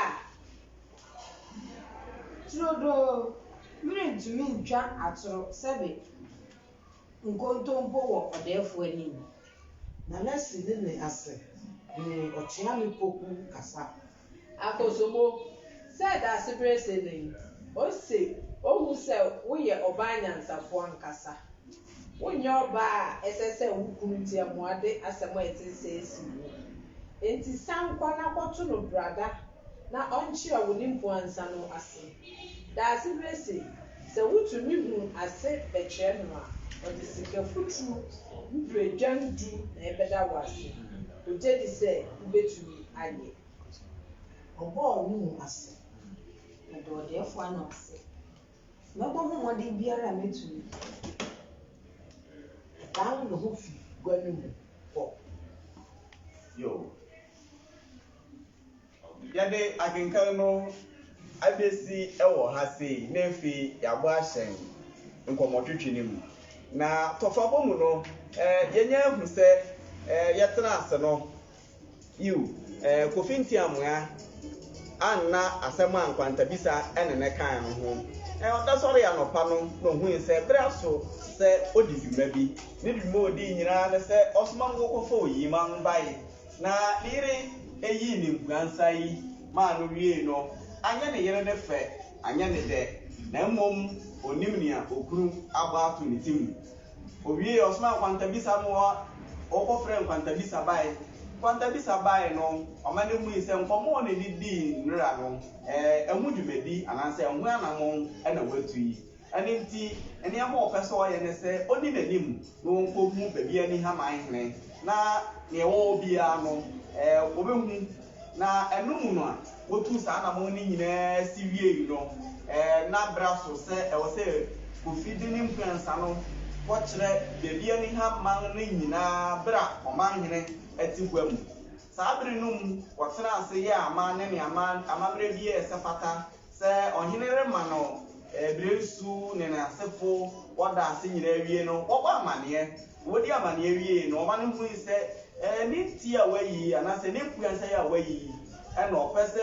turodoo, merentumi ntwa atoro, sɛbe. nkontompo wɔ ɔdɛɛfo anim. Na n'asi ne nne ase ne ɔkyea ne poku kasa. Akosobo, sɛ Daasebere se no yi, ose, Ohu sɛ woyɛ ɔbaa nyansafo ankasa. Wonyɛ ɔbaa a ɛsɛ sɛ wo kunu tiamoa de asɛm a ɛte sɛɛ si wo. Enti san kɔ na kɔto no brada na ɔnkyerɛ wo ne mpuansa no ase. Daase bi se, sɛ wotumi hu ase bɛkyerɛ no a, ɔde sika futuru mpire dwan du na ɛbɛda wo ase. Ogye di sɛ wubetumi ayɛ. Ɔbɔɔ ne mu ase. Ɔde ɔdɛɛfo ano ase. Mɛbɔ ho mmɔden biara a metumi. Ɔdan ne ho fi gua no mu hɔ. Yoh. Yɛde akenkan no abesi wɔ ha sei na afei yɛabɔ ahyɛn nkɔmmɔtwetwe no mu. Na tɔfabɔ mu no, yɛanya ahu sɛ yɛtena ase no, yiw, Kofi Ntiamoa anna asɛm a nkwantabisa ne no kae no ho. Ɔda sɔree anɔpa no na ohui sɛ bere aso sɛ odi dwuma bi. Ne dwuma a odii nyinaa ne sɛ ɔsoma no wɔkɔfa oyima no bae. Na ne yere yii ne nkuransa yi maa no wiei no, anyɛ ne yere no fɛ, anyɛ no dɛ, na mmom onnim nea okunu abɔ ato ne ti mu. Owiei, ɔsomaa nkwantabisa no hɔ, wɔkɔfrɛɛ nkwantabisa bae. Nkwantabisa bae no, ɔma no hui sɛ nkɔmmɔ a ɔne no dii nnɛra no, ɛho dwumadi anaasɛ ɛho anammɔn na watu yi. Ɛno nti, nneɛma a ɔpɛ sɛ ɔyɛ ne sɛ ɔnni n'anim na ɔnkɔhu baabi a ne haman hene, na nea ɛwɔ hɔ biara no, wɔbɛhu. Na ɛno mu no, wɔtuu saa anammɔn no nyinaa si wiei no, na bere aso sɛ ɛwɔ sɛ Kofi de ne mpuansa no kɔkyerɛ baabi a ne haman no nyinaa bere a ɔman hene te gua mu. Saa bere no mu, wɔtenaa ase yɛɛ aman ne nea amammerɛ biara a ɛsɛ fata Sɛ ɔhene rema no bere nsu ne n'asefo wɔda ase nyinaa awie no, wɔbɔ amanneɛ. Wodi amanneɛ wiei no, ɔma no hui sɛ ne nti a wayi yi anaasɛ ne mpuansa yi a wayi yi na ɔpɛ sɛ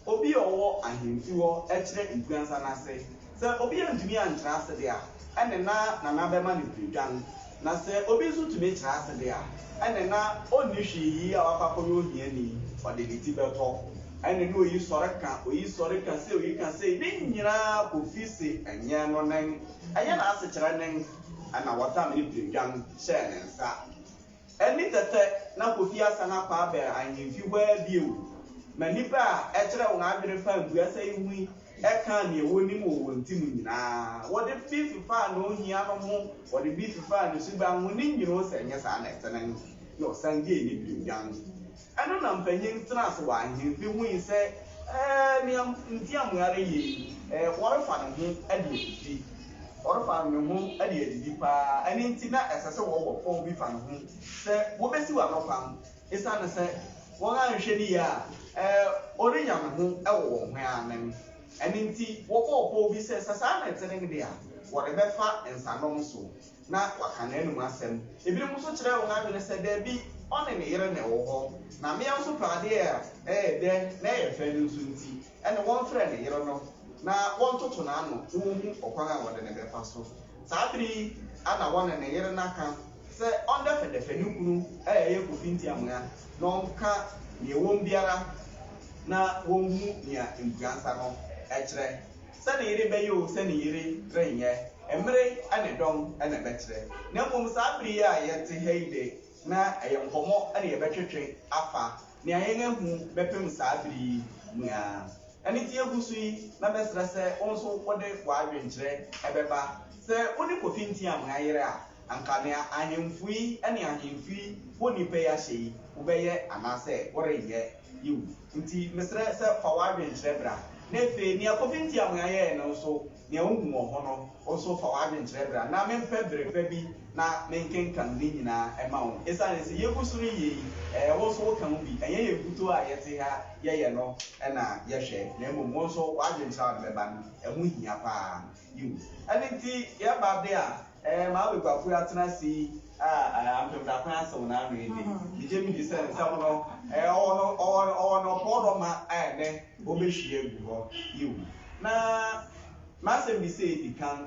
obi a ɔwɔ ahemfi hɔ kyerɛ mpuansa no ase. Sɛ obi antumi ankyerɛ ase de a, ɛnne na Nana bɛma no piredwan. Na sɛ obi nso tumi tra ase de a, ɛnne na ɔnni hwee yi a wakɔ akɔyɛ ohiani, ɔde ne ti bɛtɔ, ɛnne na oyi sɔre ka, oyi sɔre ka sei, oyi ka sei, ne nyinaa kɔfi se ɛnyɛ no nen, ɛnyɛ n'asekyerɛ nen, ɛnna wɔtam ne piredwan hyɛɛ ne nsa. Ɛnne tɛtɛ na Kofi asan akɔ abɛn ahemfi hɔ ara bio, ma nnipa a ɛkyerɛ wɔn adwene paa mpuasa yi hui Ɛkaa nea wonim wɔ wɔn ti mu nyinaa. Wɔde bi fefaa nea ohia no ho, wɔde bi fefaa ne suban ho, ne nwini ho, sɛ ɛnyɛ saa na ɛte no na ɔsan gyee ne bio guan. Ɛno na mpanyin tenaa ase wɔ ahemfi hui sɛ, Ɛɛ, nea Ntiamoa reyɛ yi, ɛɛ, ɔrefa ne ho de adidi. Ɔrefa ne ho de adidi paa. Ɛno nti, na ɛsɛ sɛ wɔwɔ pɔw bi fa ne ho sɛ wobesiw ano kwan. Esiane sɛ wɔanhwɛ no yie a ɔrenya ne ho wɔ wɔn ho ara no ɛno nti, wɔbɔɔ pɔw bi sɛ sɛ saa na ɛte no de a, wɔde bɛfa nsanom so na wɔaka n'anom asɛm. Ebinom nso kyerɛɛ wɔn adwene sɛ, Dabi, ɔne ne yere na ɛwɔ hɔ, na mmea nso pɛ adeɛ a ɛyɛ dɛ na ɛyɛ fɛ no nso nti, Ɛnna wɔmfrɛɛ ne yere no na wɔntoto n'ano na wonhu ɔkwan a wɔde no bɛfa so. Saa bere yi ara na wɔne ne yere no aka sɛ ɔndɛfɛdɛfɛ ne kunu a ɛyɛ Kofi Ntiamoya na ɔnka nea ɛwom biara na wonhu nea mpuansa no kyerɛ. Sɛ ne yere bɛyɛ oo, sɛ ne yere renyɛ, mmere ne dɔm na ɛbɛkyerɛ. Na mmom saa bere yi a yɛte ha yi de, na ɛyɛ nkɔmmɔ na yɛbɛtwetwe afa nea yɛn ahu bɛpem saa bere yi mu yi ara. Ɛno nti yegu so yi na mɛsrɛ sɛ wo nso wode w'adwenkyerɛ bɛba. Sɛ wo ne Kofi Ntiah moayere a, anka nea ahemfo yi ne ahemfo yi wɔ nnipa yi ahyɛ yi, wobɛyɛ anaasɛ worenyɛ? Yiw. Nti mesrɛ sɛ fa w'adwenkyerɛ bra. Na afei, nea Kofi Ntiah moayɛɛ no nso, Nea wuhu wɔ ho no, wo nso fa w'adwene kyerɛ bere a na mempɛ bere pa bi na menkenkan ne nyinaa mma wo. Esiane sɛ yegu so reyɛ yi, ɛɛ, wo nso woka ho bi. Ɛnyɛ yɛn nkutoo a yɛte ha yɛyɛ no na yɛhwɛ, na mmom wo nso w'adwenkyerɛ a wode bɛba no, ɛho hia paa. Yiw, ɛno nti yɛba de a, Ɛɛ, Maame Kwaku Atenase yi a Ampem Daakwan asew n'ano yi de, migye midi sɛ nsɛm no, ɛɛ, ɔwɔ no, ɔwɔ no, ɔwɔ no borɔdɔma a ɛnnɛ wɔbehwie agu hɔ. Yiw. Na m'asɛmmisa a edi kan,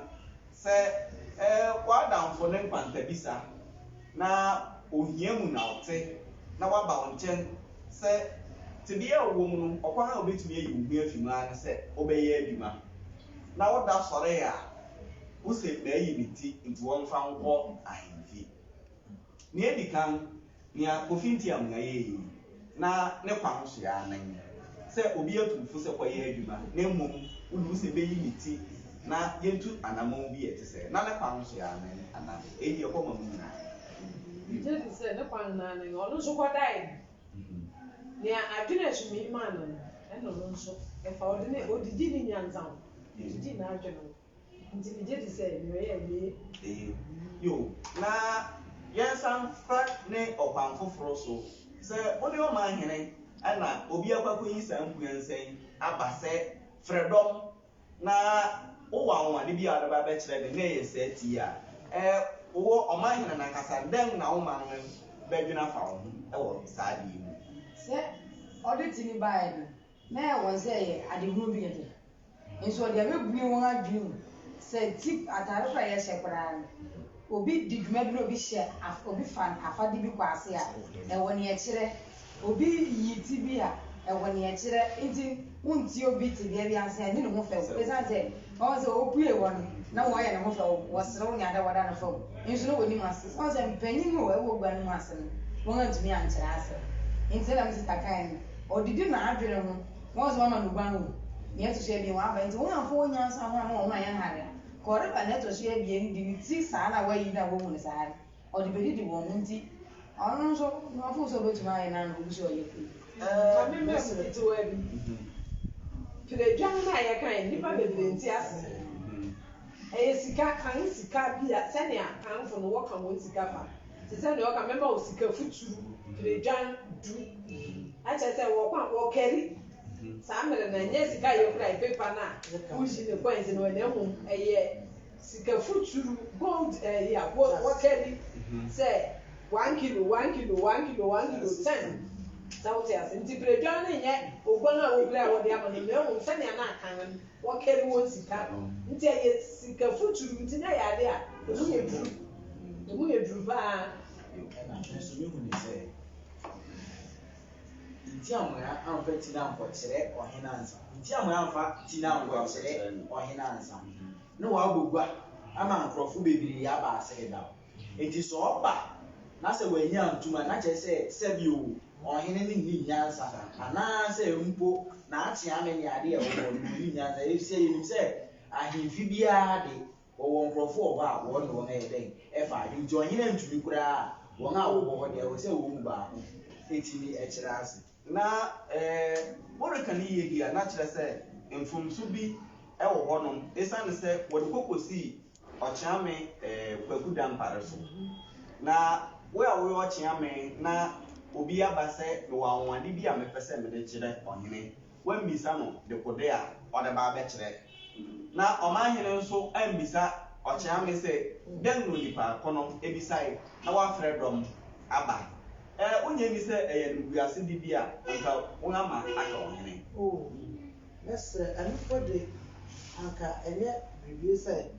sɛ, ɛɛ, w'adamfo no nkwantabisa na ohia mu na ɔte, na waba wo nkyɛn, sɛ tebea a wowɔ mu no, ɔkwan a wubetumi ayi wo ho afi mu ara ne sɛ wobɛyɛ adwuma, na woda sɔre a, Wose mayi me ti nti wɔmfa nkɔ ahemfie. Nea edi kan, nea Kofi Ntiamnga yɛe yi, na ne kwa ho so ara nen sɛ obi atu wo fo sɛ kɔyɛ adwuma na mmom wode wo se meyi me ti na yɛntu anammɔn bi a ɛte sɛɛ. Na ne kwa ho so ara nen anaa? Eyi deɛ ɛkɔma mo nyinaa. Migye di sɛ ne kwa no ara nen. Ɔno nso kɔdae Nea adwene a ɛsom yi maa no no, ɛna ɔno nso fa. Ɔde ne, ɔdidi ne nyansa ho. Ɔdidi n'adwene ho. Nti megye di sɛ nea ɔyɛe no eye. Eye. Yo. Na yɛnsan mfa ne ɔkwan foforo so. Sɛ wone ɔmanhene na obi akɔ akɔyi saa mpuansã yi aba sɛ, Frɛ dɔm! Na wowɔ anwonwade bi a wode bɛba abɛkyerɛ me, na ɛyɛ saa ti yi a, ɛɛ, wowɔ ɔman hene no ankasa, dɛn na wo man no bɛdwene afa wo ho wɔ saa ade yi ho? Sɛ ɔde ti no baeɛ no, na ɛyɛ wɔn sɛ ɛyɛ adehunu bi kɛkɛ, nso ɔde abɛbue wɔn adwene mu sɛ ti atade koro a yɛhyɛ koraa no, obi di dwuma bi na obi hyɛ, obi fa afade bi kɔ ase a, ɛwɔ nea ɛkyerɛ. Obi yi ti bi a, ɛwɔ nea ɛkyerɛ. Enti wontie obi tebea bi ansa a, nni ne ho fɛw. Esiane sɛ wɔahu sɛ opue hɔ no, na wɔyɛ ne ho fɛw, wɔserew nea da wɔda no fɛw nso na wonim ase. Sɛ woahu sɛ mpanyin no a ɛwɔ gua no mu ase no, wɔantumi ankyerɛ ase. Enti sɛnea me sista kae no, odidi n'adwene ho. Wɔahu sɛ wɔama no oguan o, nea ɛto so abien waba. Enti wɔamfa wɔn nyansa ho amma wɔn ho anyɛ hare a, ka ɔreba nea ɛto so abien de ne ti saa na wayi no a wohu no saa no. Ɔde bɛ didi wɔn ho nti. Ɔno nso na ɔfoo sɛ ɔbɛtumi ayɛ no ana obi sɛ ɔyɛ fei. Ɛɛ me mma mu ketewa bi. Piredwan no a yɛkae no nnipa bebree nte ase. Ɛyɛ sika kan sika bi a sɛnea kanfo no wɔka wɔn sika fa. Te sɛ nea ɔka mɛma wo sika futuru piredwan du. Akyerɛ sɛ wɔkɔ a wɔkari. Saa mmere no ɛnyɛ sika a yɛkura paper no a woyi ne coins no na mmom ɛyɛ Sika futuru, gold ɛyi a wɔ wɔkari sɛ one kilo, one kilo, one kilo, one kilo, ten. Sɛ wote ase. Nti piredwan no nyɛ oguan a wopira a wɔde ama no, na mmom sɛnea na akan no wɔkari wɔn sika no. Nti ɛyɛ sika futuru, nti na ɛyɛ ade a emu yɛ duru. Emu yɛ duru pa ara. Yo, ɛna me nso me huni sɛ, nti a moya amfa ti no ankɔkyerɛ ɔhene ansa, nti a moya amfa ti no ankɔkyerɛ ɔhene ansa. na ɔabɔ gua ama nkorɔfo beberee aba ase dedaw. Ntsi sɛ ɔba na sɛ oennyi anntum a, na kyerɛ dɛ sɛ bi o, ɔhen no nnyi nyansa anaasɛ mpo n'atse ame nye ade a ɔwɔ hɔ no, onnyi nyansa. Efisɛ yenim sɛ ahemfi biara de, wɔwɔ nkorɔfo wɔ hɔ a wɔnye hɔn yɛ dɛn fa adwen. Ntsi ɔhen enntum koraa a, hɔn a wɔwɔ hɔ de, ɔwɔ sɛ hɔn mu baako tse bi kyerɛ ase. Na moreka no yiye de a, na kyerɛ sɛ mfomso bi wɔ hɔnom esiane sɛ wɔde kɔ kosii ɔkyeame Kwaku Dampare so. Na wo a woyɛ ɔkyeame na obi aba sɛ mewɔ anwonwade bi a mepɛ sɛ mede kyerɛ ɔhene, woammisa no dekode a ɔde ba abɛkyerɛ Na ɔmanhene nso ammisa ɔkyeame sɛ, Dɛn na onipa ko no bisae na wafrɛ dɔm aba? Ɛ, wonnye nni sɛ ɛyɛ animguasede bi a anka wɔama aka ɔhene? O, mɛsrɛ, ɛnofoɔ de, anka ɛnyɛ biribi sɛ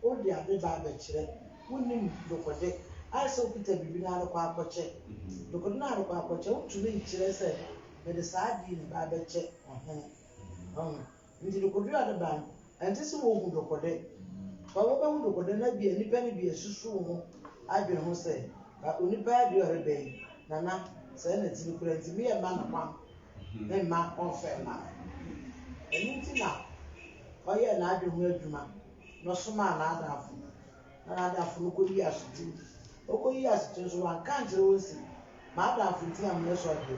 wode ade ba abɛkyerɛ, wonnim dokode, ayɛ sɛ wokita biribi na arekɔ akɔkyɛ. Dokode no a arekɔ akɔkyɛ, wontumi nkyerɛ sɛ, Mede saa ade yi na ɛba abɛkyɛ ɔhene. Ɔho? Ntsi dokodwira no ba no, ɛnntse sɛ wohu dokode. Fa wobehu dokode na bi a nnipa no bi asusuw ho adwen ho sɛ, Fa onipa yi adeɛ a ɔrebɛ yi, Nana, sɛɛ na ɛte no koraa nti meyɛ mma no kwan memma ɔmfa mma me. Ɛno nti na ɔyɛɛ n'adwen ho adwuma na ɔsomaa n'adamfo na n'adamfo no kɔyii asotin. Ɔkɔyii asotin nso wanka ankyerɛ wɔn se, M'adamfo nti na moyɛ so adeɛ.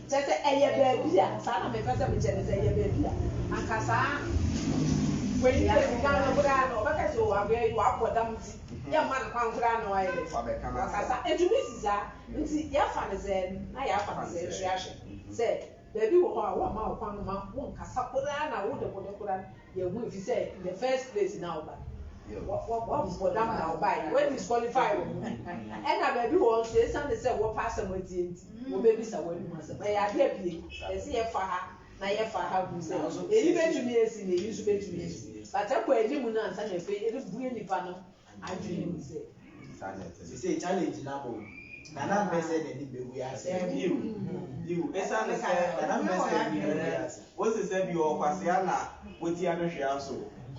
Kyerɛ sɛ, ɛyɛ baabi a. Saa na mepɛ sɛ mekyerɛ no, sɛ ɛyɛ baabi a. Anka saa wei no yɛ sika no koraa no, ɔbɛka sɛ, Oh, akoya yi, wabɔ dam nti, yɛmma no kwan koraa na wayɛ dɛn? Wakasa. Ɛtumi si saa. Nti yɛafa no sɛɛ no, na yɛafa no sɛɛ nso yɛahwɛ sɛ baabi wɔ hɔ a wɔmma wo kwan mma wonkasa koraa na wode wode koraa no. Yɛ hu efisɛ in the first place na ɔba wɔbɔdam na ɔbae wɔ disqualify wɔ mu ɛna baabi wɔ nso esiane sɛ wɔpɛ asɛm atie nti mm. wɔbɛbisa wɔn anum asɛm ɛyɛ adeɛ pie ɛsɛ yɛfa ha na yɛfa ha hu sɛ eyi bɛtumi esi na eyi nso bɛtumi esi but ɛkɔ anim no ansa na afei ɛde bue nipa no adwene mu sɛ sesei challenge no abɔ mu nana mpɛ sɛ n'ani bɛgu ase yiw yiw ɛsiane sɛ nana mpɛ sɛ n'ani bɛgu ase wosi sɛ bi ɔkwasea na wotia no hwea so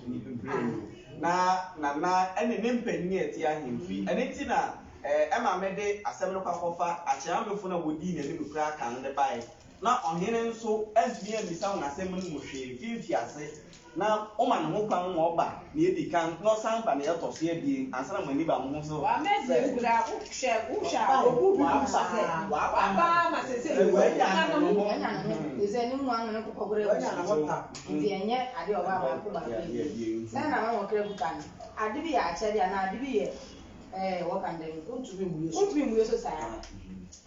ne bebree mu na nana ɛne ne mpanyin a ɛte ahemfi ɛne ti na ɛma mede asɛm no kɔ akɔfa akyerɛ amefo na wodii n'anim kura kan de bae na ɔhene nso antumi ammisa wɔn asɛm no mu hwee fi mfiase, na woma ne ho kwan ma ɔba nea edi kan na ɔsan ba nea ɛtɔ so abien ansa na mo ani ba mo ho so sɛ.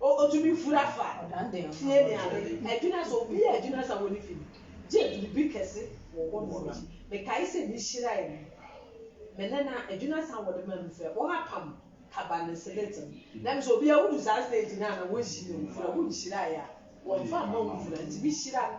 Otumi fura fa, tie ne ade. Adwina sɛ obi yɛ adwina sa wɔ ne fi no, gye biribi kɛse wɔ hɔ nom nti. Mekae sɛ me hyirae no, me nana, adwina sa a wɔde ma no sɛ wɔapam kaba ne selete no. Na me sɛ obi a wodu saa stage no a na wɔnhyi na wofura, wonhyirae a, wɔmfa mma wo mfura. Nti me hyira no,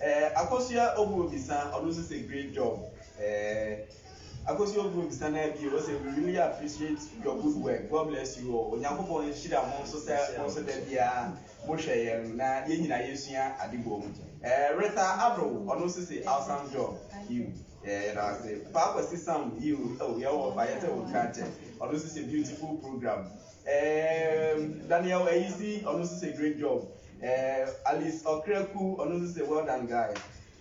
Eh Akosua Obuo bisa ɔno nso sɛ great job eh Akosua Obuo bisa no bio ɔsɛ we really appreciate your good work God bless you all Onyankopɔn nhyira mo nso sɛ mo nso da biara mo hwɛ yɛn na yɛn nyinaa yɛsua ade bɔ mu eh Rita Abro ɔno nso sɛ awesome job you eh yɛda ase Paa Kwasi Sam you oh yɛwɔ ɔfa yɛsɛ wo nkankyɛ ɔno nso sɛ beautiful program Eeeemm Daniel Ayisi ɔno nso sɛ great job eeemm Alice Ɔkraku ɔno nso sɛ well done guys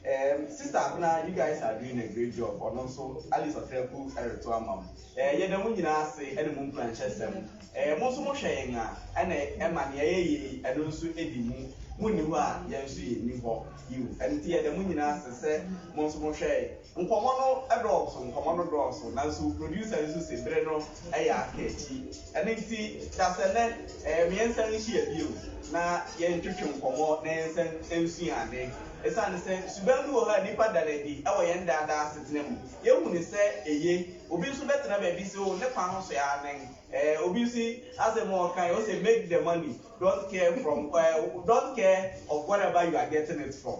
eeemm Sister Abena you guys are doing a great job ɔno nso Alice Ɔkraku ɛreto ama mo eeemm yɛda mo nyinaa ase ɛne mo nkuranhyɛsɛm eeemm mo nso mo hwɛ yɛn a ɛna ɛma nea yɛyɛ yi ɛno nso ɛdi mu mo nni hɔ a yɛn nso yɛnni hɔ yiw ɛno nti yɛda mo nyinaa ase sɛ mo nso mo hwɛ Nkɔmɔ no dɔɔso nkɔmɔ no dɔɔso nanso producer yi nso se bere no yɛ aka akyi ɛno nti dasɛ nɛ ɛɛ meɛnsan nhyia bio na yɛntwetwe nkɔmɔ na yɛnsan nsua ade ɛsiane sɛ suban bi wɔ hɔ a nnipa da no adi wɔ yɛn daadaa asetena mu yɛhu no sɛ eye obi nso bɛtena baabi se o ne kwan ho so aa nen ɛɛ obi nso asɛm a ɔkae ose make the money don't care from ɛɛ don't care of whatever you are getting it from.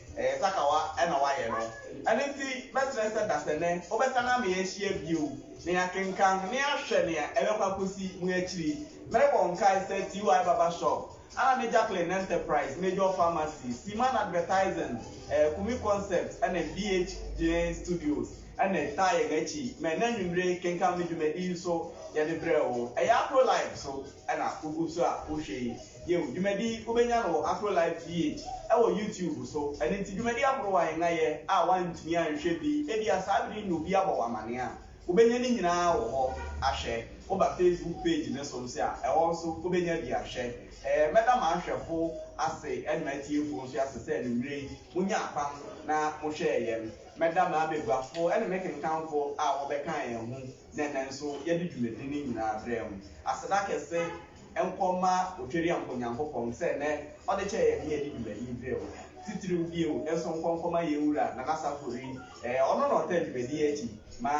Ɛyɛ takawa na wayɛ no. Ɛno nti, mɛsrɛ sɛ dasɛnɛ wobɛsan ama yɛahyia bio na yɛakenkan na yɛahwɛ nea ɛbɛkɔ akosi mu akyiri. Merebɔ nkae sɛ TY Barber Shop, Anna ne Jacqueline Enterprise, Major Pharmacy, Seaman Advertising, Kumi Concept ne BH Gyeen Studios na ɛtaa yɛn akyi ma ɛnnɛ anwummere kenkan me dwumadi yi nso yɛde brɛ wo. Ɛyɛ Afrolife so na wugu so a wohwɛ yi. Yiw, dwumadi yi wobenya no wɔ Afrolife GH wɔ YouTube so. Ɛno nti, dwumadi ahorow a yɛn ayɛ a woantumi anhwɛ bi, ebia saa bere yi na obi abɔ wo amanneɛ a, wobenya ne nyinaa wɔ hɔ ahwɛ. Woba Facebook page no so nso a, ɛhɔ nso wobenya bi ahwɛ. Ɛɛ, mɛda m'ahwɛfo ase ne m'atiefo nso ase sɛ anwummere yi monyaa kwan na mohwɛɛ yɛn. Mɛda m'abaguafo ne me kenkanfo a wɔbɛkaa yɛn ho Na ɛnnɛ nso yɛde dwumadi no nyinaa brɛ mo. Aseda kɛse nkɔ mma Otwereampɔ Nyankopɔn sɛ nnɛ ɔde kyɛɛ yɛn ne yɛde dwumadi yi brɛ wo. Titiriw bio nso nkɔ nkɔ ma yɛn Wura Nana Saffori, ɛɛ ɔno na ɔtaa dwumadi yi akyi ma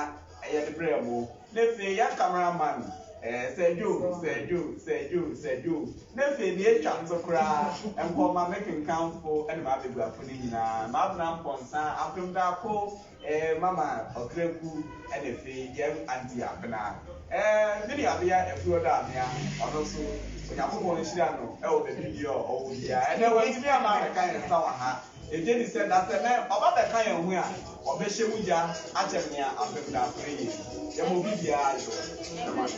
yɛde brɛ mo. Na afei yɛn camera man, ɛɛ Sir Joe, Sir Joe, Sir Joe, Sir Joe. Na afei nea atwa nso koraa nkɔ mma me kenkanfo ne m'abaguafo no nyinaa, m'abenampɔnsa, Ampemdaako Eh mama ɔkraku ne fe yɛm auntie abena eh me nua bea afiri ɔdɔ amea ɔno nso onyankopɔn nhyira no wɔ baabi bia ɔwɔ bia ɛnɛ wantumi ama abɛka yɛn nsa wɔ ha yɛgye di sɛ dasɛ nɛ ɔba bɛka yɛn ho a ɔbɛhyɛ mu gya akyɛ nea apem da afrɛ yɛn yɛma obi bia ayɔ ɛma no.